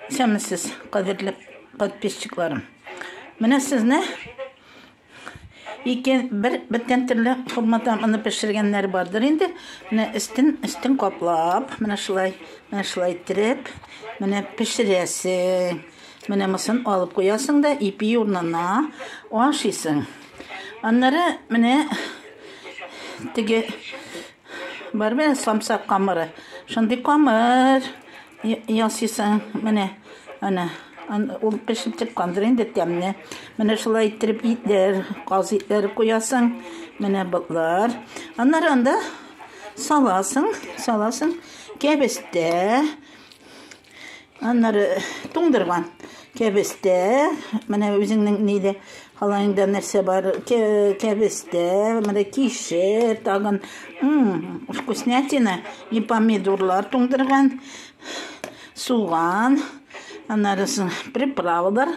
Исәнмесез, кадерле подписчикларым. Менә сезне ике бер бертен төрле формада моны пешергәннәр бардыр инде. Менә өстен өстен каплап, менә шулай, менә шулай иттереп, менә пешерәсең. Менә мосын алып куясың да ипи урнына ашыйсың. Аннары менә теге Бар бит самса камыры. Шундый камыр ясыйсың. Менә, ана, ул пешеп чыккандыр инде тәмне. Менә шулай иттереп итләр, каз итләре куясың. Менә ботлар. Аннары анда саласың, саласың кәбестә. Аннары туңдырган кәбестә, менә үзеңнең нидә халайыңда нәрсә бар, кәбестә, менә кишер, тагын вкуснятина и помидорлар туңдырган, суган, аннары приправалар.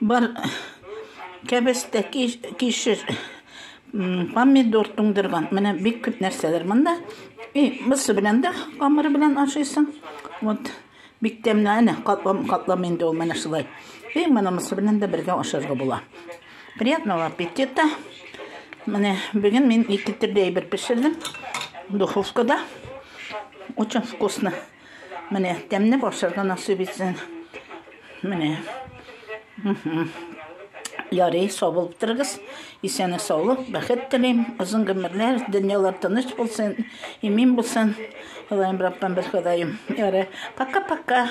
Бар кәбестә, кишер, помидор туңдырган. Менә бик күп нәрсәләр монда. И, бусы белән дә камыры белән ашыйсың. Вот. Бик тәмле, әнә, катлам, катлам инде ул менә шулай. И, моны мысы белән дә бергә ашарга була. Приятного аппетита. Менә бүген мин ике төрле әйбер пешердем. Духовкада. Очень вкусно. Менә тәмне башырга насыйп итсен. Менә. Ярый, сау булып торыгыз. Исәнлек, саулык, бәхет телим. Озын гомерләр, дөньялар тыныч булсын, имин булсын. Ходаем Раббым бер Ходаем. Ярый. Пока-пока.